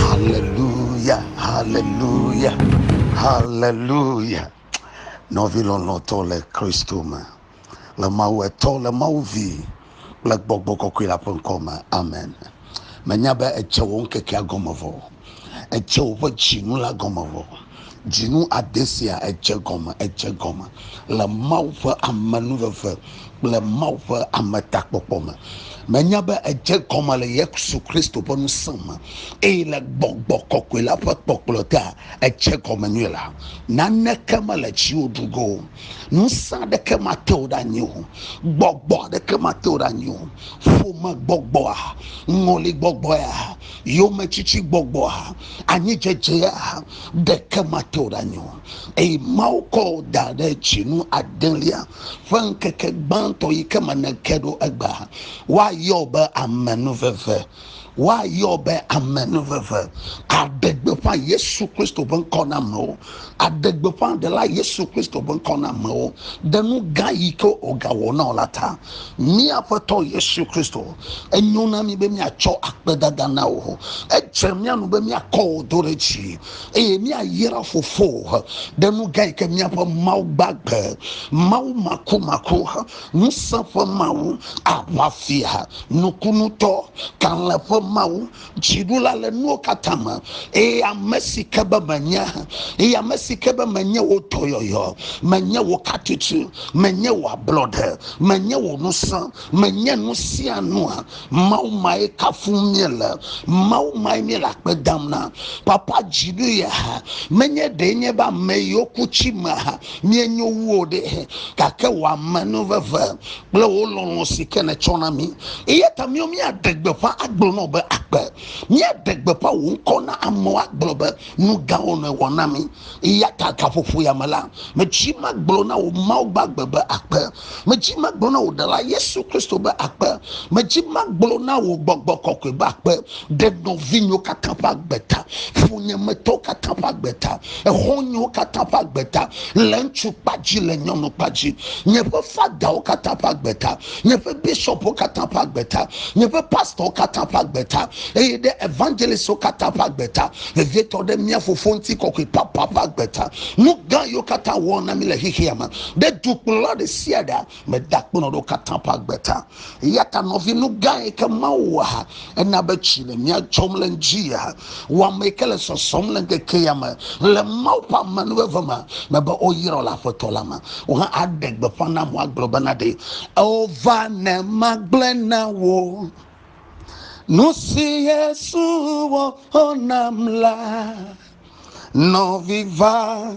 Haleluya, haleluya, haleluya. Nɔvi lɔlɔ̃tɔ le Kristo me, le Mawu etɔ, le Mawu vi, le gbɔgbɔ kɔkɔe la ƒe ŋkɔ me. Amen. Menya be etse wò ŋkekea gɔme vɔ, etse woƒe tsinu la gɔme vɔ. Dzinu ade sia edze egɔme, edze egɔme le Mawu ƒe amenuveve kple Mawu ƒe ametakpɔkpɔ me. Menya be edze egɔme le Yesu Kristo ƒe ŋusẽ me eye le gbɔgbɔ kɔkɔe la ƒe kpɔkplɔ tea edze egɔme nyuie la. Naneke mele dziwò ɖu go o. Ŋusẽ aɖeke mate wò ɖe anyi o. Gbɔgbɔ aɖeke mate wò ɖe anyi o. Ƒomegbɔgbɔa, ŋɔligbɔgbɔea, yometsitsigbɔgbɔa, anyidzedzea ɖeke mate wò ɖe anyi o. Eye Mawu kɔ wò da ɖe dzinu adelia ƒe ŋkeke gbãtɔ yi ke me nèke ɖo egbea. Woayɔ wò be amenuveve. Woayɔ wò be amenuveve. Àɖe gbeƒã Yesu Kristo ƒe ŋkɔ na amewo. Aɖe gbeƒã Ɖela Yesu Kristo ƒe ŋkɔ na amewo ɖe nu gã yi ke wògawɔ na wò la ta. Mía Aƒetɔ Yesu Kristo, enyo na mí be míatsɔ akpedada na wò. Edze mía nu be míakɔ wò do ɖe dzi eye míayra fofowò ɖe nu gã yi ke míaƒe Mawu gbagbe, Mawu makumaku, ŋusẽ ƒe Mawu, aʋafia, nukunutɔ, kalẽ ƒe Mawu, dziɖula le nuwo katã me eye ame si ke be menye eye ame si ke be menye wò dɔyɔyɔ menye wò katutu menye wò ablɔɖe menye wò ŋusẽ menye nu sia nua mawu mae kafu míele mawu mae míele akpe dam na papa dziɖu ya menye ɖee nye be ame yiwo ku tsi me ha míenyo wu o ɖe gake wò amenuveve kple wò lɔlɔ̃ si ke nètsɔ na mí. Eya ta míawo míaɖe gbeƒã agblɔ na wò be akpe. Míaɖe gbeƒã wò ŋkɔ na amewo agblɔ be, Nu gãwo nèwɔ na mí. Eya ta gaƒoƒo ya me la, medzi magblɔ na wò Mawu gbagbe be akpe. Medzi magblɔ na wò Ɖela Yesu Kristo be akpe. Medzi magblɔ na wò gbɔgbɔ kɔkɔe be akpe. ɖe nɔvinyewo katã ƒe agbe ta, funyemetɔwo katã ƒe agbe ta, exɔnyewo katã ƒe agbe ta, le ŋutsu kpa dzi, le nyɔnu kpa dzi, nye ƒe fadawo katã ƒe agbe ta, nye ƒe bishɔpwo katã ƒe agbe ta, nye ƒe pastorwo katã ƒe agbe ta, eye ɖe evangelistwo katã ƒe agbe ta, vevietɔ ɖe mía Fofo ŋutikɔkɔe papa ƒe agbe ta. Nu gã yiwo katã wòwɔ na mí le xexea me, ɖe dukplɔla ɖe sia ɖe meda kpɔnɔ ɖewo katã ƒe agbe ta. Eya ta nɔvi nu gã yi ke Mawu wɔ ha ena be tsi le mía dzɔm le ŋdi ya ha. Wò ame yi ke le sɔsɔm le ŋkeke ya me le Mawu ƒe amenuveve ma me be woyrɔ le Aƒetɔ la me. Wò hã aɖe gbeƒã nam woagblɔ bena ɖe ewova ne magblɔe na wò nu si Yesu wɔ nam la. Nɔvi va.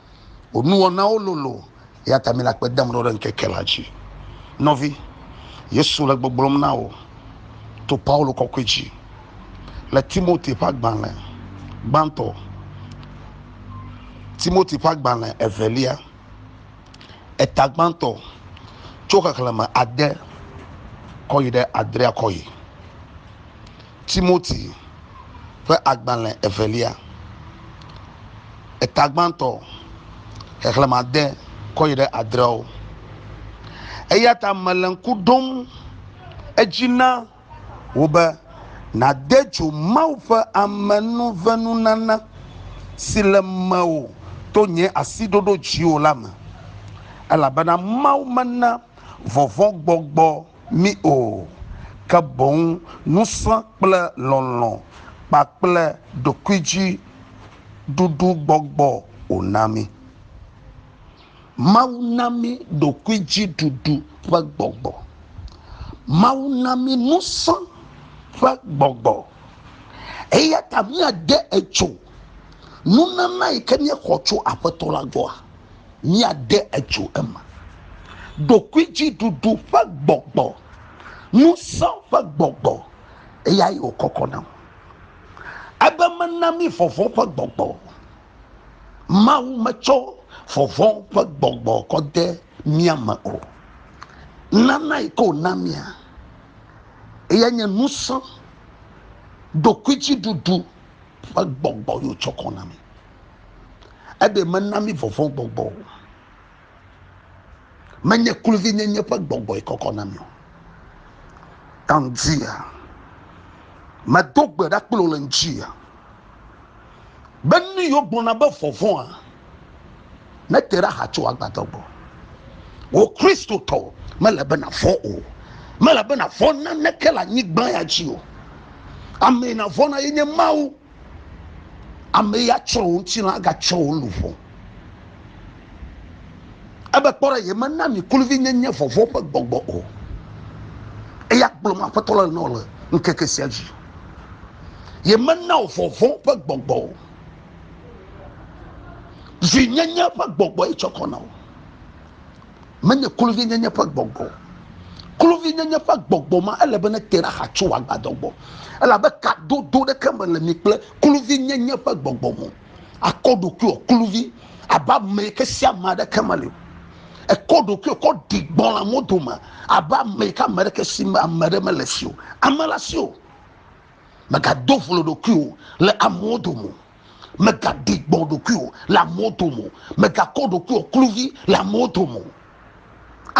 Wò nuwɔnawo lolo, eya ta mele akpe dam ɖo ɖe ŋkeke la dzi. Nɔvi, Yesu le gbɔgblɔm na wò to Paulo kɔkɔe dzi le Timote ƒe agbalẽ gbãtɔ, Timote ƒe agbalẽ evelia, eta gbãtɔ tso xexlẽme ade kɔ yi ɖe adrea kɔ yi. Timoti ƒe agbalẽ evelia, eta gbãtɔ, xexlẽme ade kɔ yi ɖe adreawo. Eya ta mele ŋku ɖom edzi na wò be nàde dzo Mawu ƒe amenuvenunana si le mewò to nye asi ɖoɖo dziwò la me, elabena Mawu mena vɔvɔ̃gbɔgbɔ mí o, ke boŋ ŋusẽ kple lɔlɔ̃ kpakple ɖokuidziɖuɖugbɔgbɔ wòna mí. Mawu na mí ɖokuidziɖuɖu ƒe gbɔgbɔ. Mawu na mí ŋusẽ ƒe gbɔgbɔ. Eya ta míade etso nunana yi ke míexɔ tso Aƒetɔ la gbɔa? míade edzo eme. Ɖokuidziɖuɖu ƒe gbɔgbɔ, ŋusẽ ƒe gbɔgbɔ, eyae wòkɔkɔ nam. Ebe mena mí vɔvɔ̃ ƒe gbɔgbɔ o. Mawu metsɔ vɔvɔ̃ ƒe gbɔgbɔ kɔ de mía me o. Nana yi ke wòna mía, eyae nye ŋusẽ, ɖokuidziɖuɖu ƒe gbɔgbɔ ye wòtsɔ kɔ na mí. Eɖe mena mi vɔvɔ̃ gbɔgbɔ o. Menye kluvinyenye ƒe gbɔgbɔe kɔkɔ na mi o. Ka ŋutia? Medo gbe ɖa kple wò le ŋutia. Be nu yiwo gblɔna be vɔvɔ̃a nete ɖe aha tso agbadɔ gbɔ. Wò Kristotɔ, mele be nàvɔ̃ o. Mele be nàvɔ̃ naneke le anyigba ya dzi o. Amee nàvɔ̃na ye nye Mawu. Ame ya tsɔ wò ŋutilã agatsɔ wò luʋɔ. Ebe kpɔ ɖe yemena mi kluvi nyenye vɔvɔ ƒe gbɔgbɔ o. Eya gblɔ me aƒetɔ le nɔ le ŋkeke sia dzi. Yemena wò vɔvɔ ƒe gbɔgbɔ o. Zi nyenye ƒe gbɔgbɔ etsɔ kɔ na wò. menye kluvinyenye ƒe gbɔgbɔ o. Kluvinyenye ƒe gbɔgbɔ ma, ele be nete ɖe axa tso wò agbadɔ gbɔ, elabe kadodo ɖeke mele mi kple kluvinyenye ƒe gbɔgbɔ me o. Àkɔ ɖokuiwò kluvi abe ame yi ke si ame aɖeke meli o. Èkɔ ɖokuiwò kɔ ɖi gbɔ le amewo dome abe ame yi ke ame aɖeke si me ame aɖe mele si o. Ame le asiwò. Mègado vlo ɖokuiwò le amewo dome o. Mègaɖi gbɔ̃ ɖokuiwò le amewo dome o. Mègakɔ ɖokuiwò kluvi le amewo dome o.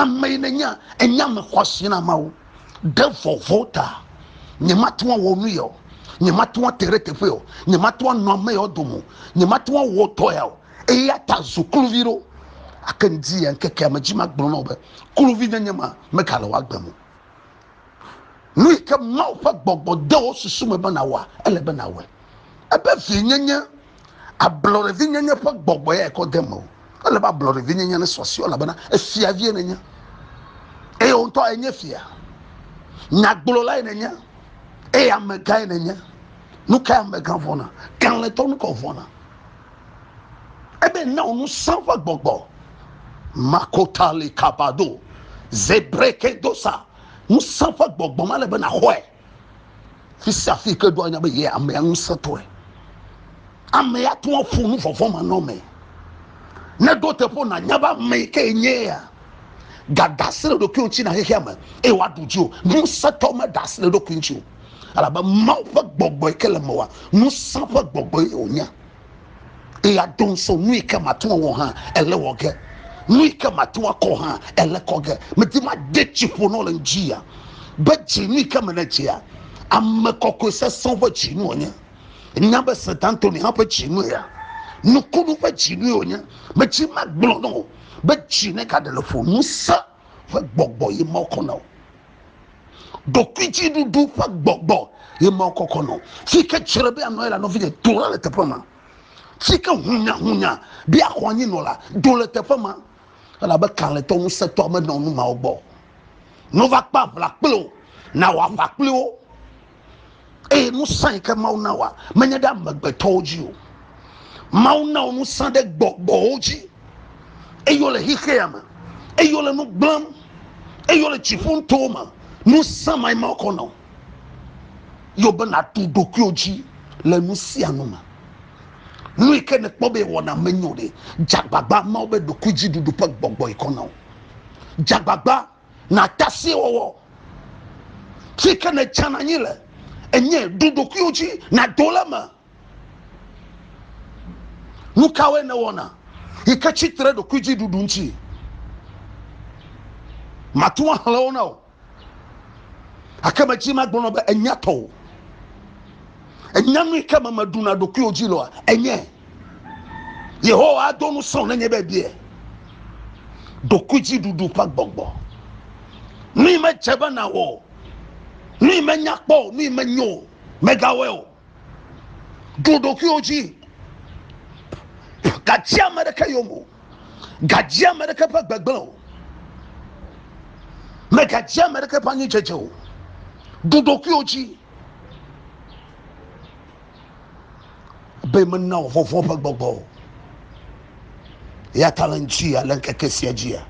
Ame yi nènya, enye ame xɔasi na Mawu. Ɖe vɔvɔ̃ ta, nyemate ŋu awɔ nu ya o, nyemate ŋu ate ɖe teƒe ya o, nyemate ŋu anɔ ame yawo dome o, nyemate ŋu awɔ dɔ ya o. Eya ta zu kluvi ɖo. Gake ŋdi ya ŋkekea me dzi magblɔ na wò be, Kluvinyenye ma megale wò agbe me o. Nu yi ke Mawu ƒe gbɔgbɔ de wo susu me be nàwɔa, ele be nàwɔe. Ebe vinyenye, ablɔɖevinyenye ƒe gbɔgbɔ ya kɔ de mewò. Ele be ablɔɖevinyenye nesɔ asi elabena efia vie nenye. Eye wo ŋutɔ enye fia. Nyagblɔlae nenye eye amegãe nenye. Nu kae amegã vɔ̃na? Kalẽtɔ nu ka wòvɔ̃na? Ebe na wò ŋusẽ ƒe gbɔgbɔ. Makotali kabado. Zebreke dosa. Ŋusẽ ƒe gbɔgbɔ ma le be naxɔe. Fi sia fi ke do anya be ye amea ŋusẽ tɔe. Amea tún aƒo nu vɔvɔ ma nɔ me. Ne ɖo teƒe nanya be ame yi ke enye ya. Gada asi ɖe ɖokui ŋuti na xexea me eye woaɖu dzi o. Ŋusẽ tɔ me da asi ɖe ɖokui ŋuti o. Elabe Mawu ƒe gbɔgbɔ yi ke le me wa ŋusẽ ƒe gbɔgbɔ ye wònye. la do ŋusɔ nu yi ke mate ŋu awɔ hã ele wɔ ge nu yi ke mate ŋu akɔ hã ele kɔ ge medi made tsi ƒo nɔ le ŋdzi ya be dzi nu yi ke me ne dzia ame kɔkɔe sesẽ ƒe dzi nu wònye nya be sent antoni hã ƒe dzi nu ya nukunu ƒe dzi nu wònye medzi magblɔ nɔ o be dzi ne gaɖe le ƒo ŋusẽ ƒe gbɔgbɔ ye ma wokɔ na o. Ɖokuidziɖuɖu ƒe gbɔgbɔ ye ma wokɔkɔ na o. Fi ke tsrɔe be anɔ ye la, nɔvinye, do la le teƒe ma. Fi ke hunyahunya be axɔ anyi nɔ la, do le teƒe ma. Elabe kalẽtɔ ŋusẽtɔ menɔ nu mawo gbɔ. Nova kpe aʋla kple wo, nawɔ aʋa kple wo. eye ŋusẽ yi ke mawu na wa menye ɖe amegbetɔwo dzi o mawu na wo ŋusẽ ɖe gbɔgbɔwo dzi eye wole xexea me eye wole nu gblẽm eye wole dziƒo ŋutɔwo me ŋusẽ ma ma kɔ na wo yewo be nàɖu ɖokuiwo dzi le nu sia nu me nu yi ke nekpɔ be wɔna menyo ɖe dzagbagba mawo be ɖokuidziɖuɖu ƒe gbɔgbɔ yi kɔ na wo dzagbagba nàte asi wɔwɔ si ke nètsana anyi le enye ɖu ɖokuiwò dzi nàdo le eme nu kawoe nèwɔna yi ke tsi tre ɖokuidziɖuɖu ŋuti mate ŋu axlẽ wo na o gake medzi magblɔ nɔ be enya tɔwò enya nu yi ke me meɖuna ɖokuiwò dzi lɔa enye yehowa ado nu srɔ̃ nenye be bie ɖokuidziɖuɖu ƒe gbɔgbɔ nui medze be nawɔ o nui menya kpɔ o nui menyo o megawɔe o ɖo ɖokuiwo dzi gadzia ame ɖeke yome o gadzia ame ɖeke ƒe gbegblẽ o megadzia ame ɖeke ƒe anyidzedze o ɖo ɖokuiwo dzi be mena wò vɔvɔ̃ ƒe gbɔgbɔ o. Eya ta le ŋuti ale ŋkeke sia dzia,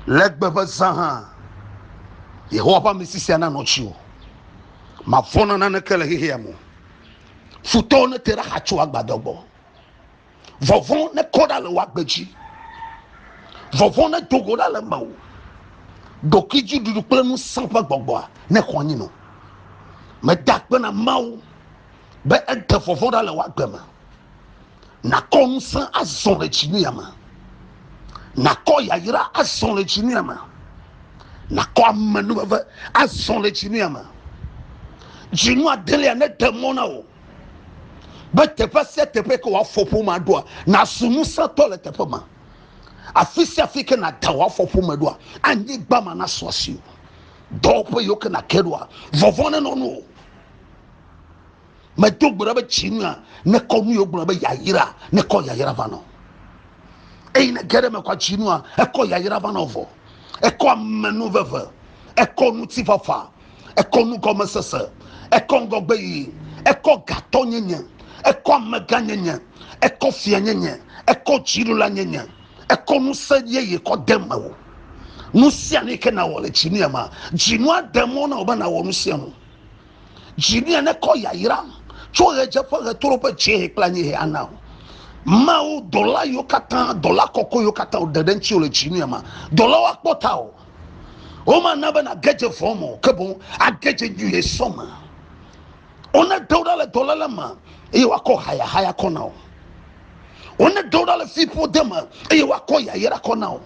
legbe ƒe zã hã, Yehowa ƒe amesi sia nanɔ dziwò. Mavɔ̃ na naneke le xexea me o. Futɔwo nete ɖe axa tso agbadɔ gbɔ. vɔvɔ ne kɔ ɖa le wòa gbe dzi vɔvɔ ne do go ɖa le me o ɖokui dzi ɖuɖu kple ŋusẽ ƒe gbɔgbɔa ne xɔ anyi no meda akpe na mawu be ede vɔvɔ ɖa le wòa gbe me nakɔ ŋusẽ azɔ le dzinuya me nakɔ yayra azɔ le dzinuya me nakɔ amenuveve azɔ le dzinuya me dzinu adelia ne de mɔ na o be teƒe sia teƒe ke wòafɔ ƒomea ɖoa nàzu ŋusẽtɔ le teƒe ma afi sia afi ke nàda wòafɔ ƒome ɖoa anyigba ma nasu asi o dɔwɔƒe yiwo ke nàke ɖoa vɔvɔ nenɔ nu o medo gbe ɖa be tsi nua nekɔ nu yiwo gblɔ be yayra nekɔ yayra va nɔ eyi ne ge ɖe mekɔ tsi nua ekɔ yayra va nɔ vɔ ekɔ amenu veve ekɔ ŋutifafa ekɔ nugɔmesese ekɔ ŋgɔgbe yiyi ekɔ gatɔ nyenye ekɔ amegã nyenye ekɔ fia nyenye ekɔ dziɖola nyenye ekɔ ŋusẽ yeye kɔ de me o nu sia nu yike nawɔ le dzinia ma dzinua de mɔ na wò be nawɔ nu sia nu dzinia nekɔ yayra tso ɣedzeƒe ɣetoro ƒe dziehe kple anyihe ana o mawu dɔla yiwo katã dɔla kɔkɔe yiwo katã wòɖe ɖe ŋutiwo le dzinia ma dɔlawo akpɔ ta o womana be nage dze vɔ̃ me o ke boŋ age dze nyuie sɔ me wonedo ɖa le dɔléle me eye woakɔ hayahaya kɔ na wo wonedo ɖa le fiƒode me eye woakɔ yayra kɔ na wo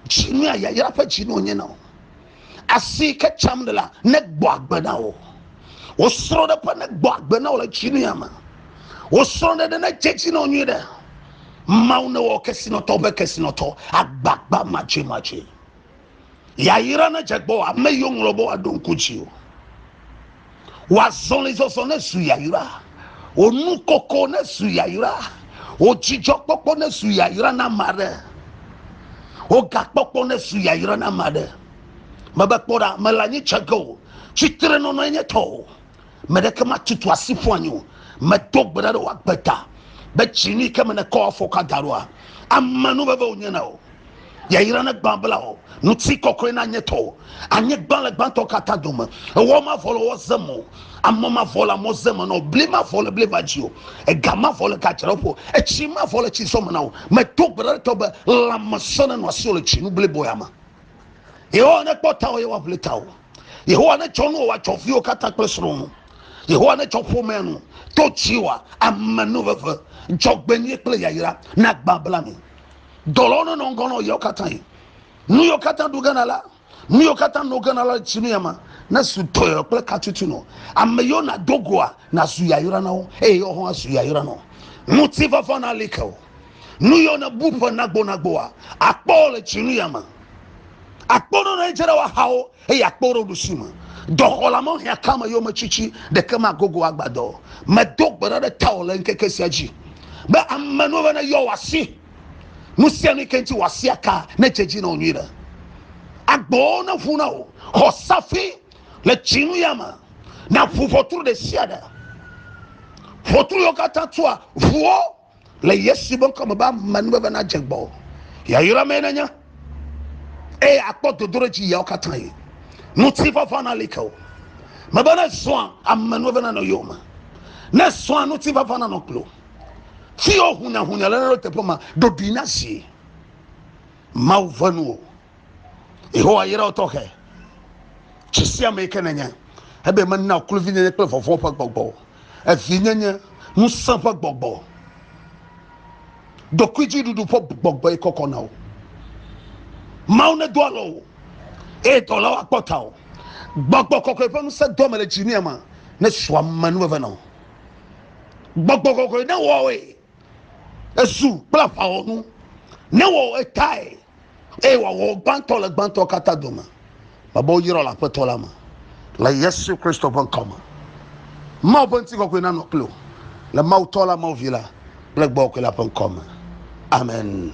dzinu ya yayra ƒe dzinu wonye na wo asi ke tsam ɖe la negbɔ agbe na wo wosrɔ̃ ɖe ƒe negbɔ agbe na wo le dzinu ya me wosrɔ̃ ɖe ɖe ne dze dzi na wo nyuie ɖe Mawu newɔ kesinɔtɔwo ƒe kesinɔtɔ agbagba madzemadzee. Yayra nedze gbɔ ame yiwo ŋlɔ be woaɖo ŋku dzi o. Wò azɔlizɔzɔ nezu yayra. Wò nukoko nezu yayra. Wò dzidzɔkpɔkpɔ nezu yayra na ame aɖe. Wò gakpɔkpɔ nezu yayra na ame aɖe. Mebe kpɔ ɖa, mele anyi dze ge o. Tsitrenɔnɔe nye tɔwò. me ɖeke matutu asi ƒu anyi o medo gbe ɖa ɖe woagbe ta be tsini ke me nekɔ afɔka da ɖoa ame nu veve wònye na o yayra ne gbã bla o ŋuti kɔkɔe na nye tɔ o anyigba le gbãtɔ katã dome ewɔ mavɔ le wɔ ze me o amɔ mavɔ le amɔ ze me na o bli mavɔ le bli va dzi o ega mavɔ le gadzra ƒo etsi mavɔ le tsi zɔ me na o medo gbe ɖa ɖe tɔ be lãmesẽ ne nɔ asi o le tsinu blibo ya me yehowa ne kpɔ tawɔ ye woaʋli tawɔ yehowa ne tsɔ nuwo woatsɔ viwo katã kple srɔ̃ nu yehowa ne tsɔ ƒomea nu to tsiwa ame nu veve dzɔgbenyui kple yayra na gbã bla mi dɔlɔwo ne nɔ ŋgɔ nɔ yewo katã yi nu yewo katã ɖu gana la nu yewo katã nɔ gana la tsi mi ama ne su dɔyɔ kple katutu nɔ ame yewo na dogoa na zu yayra na wo eye yewo hã zu yayra nɔ ŋuti vɔvɔ na like o Nu yɔ ne bu ƒe nagbonagboa, akpɔ wo le tsinu ya me. Akpɔ ɖo ne edze ɖe woaxawo eye akpɔ wo ɖe ɖusi me. Dɔxɔla me hĩa kame yome tsitsi ɖeke me agogo agbadɔ. Medo gbe ɖa ɖe tawò le ŋkeke sia dzi be ame nu eve ne yɔ wòasi. Nu sia nu yi ke ŋuti wòasi aka ne dze dzi na wò nyui ɖe. Agbowo ne ʋu na wò. Xɔ safi le tsinu ya me. Na ʋu ʋɔtru ɖe sia ɖe. Ʋɔtru yɔ katã tua ʋuwo. Le Yesu ƒe ŋkɔ me be ame nuveve nadze gbɔ. Yayra mee nenye eye akpɔ dodoɖedzi yawo katã yi. Ŋutifafa nali ke o. Mebe ne zɔa ame nuveve nanɔ yowòme. Ne zɔa ŋutifafa nanɔ kpli wò. Fi yewo hunyahunya le ɖo teƒe ma, ɖoɖoe nazi. Mawu ʋe nu o. Yehowa yra wo tɔxɛ. Tsi sia me ke nenye ebe mena kluvinyenye kple vɔvɔ̃ ƒe gbɔgbɔ o. Evinyenye, ŋusẽ ƒe gbɔgbɔ, ɖokuidziɖuɖu ƒe gbɔgbɔe kɔkɔ na wo. Mawu nedo alɔ wo eye dɔlawo akpɔ ta o. Gbɔgbɔ kɔkɔe ƒe ŋusẽ doa me le dzinia me ne su ame nu veve na wo. Gbɔgbɔ kɔkɔe ne wɔe ezu kple aʋawɔnu ne wɔ etae. eye wòawɔ wo gbãtɔ le gbãtɔ katã dome, mebe woyrɔ le Aƒetɔ la me, le Yesu Kristo ƒe ŋkɔ me. Mawu ƒe ŋutikɔkɔe nanɔ kpli wò, le Mawu Tɔ la, Mawu Vi la, kple Gbɔgbɔ Kɔkɔe la ƒe ŋkɔ me. Amen.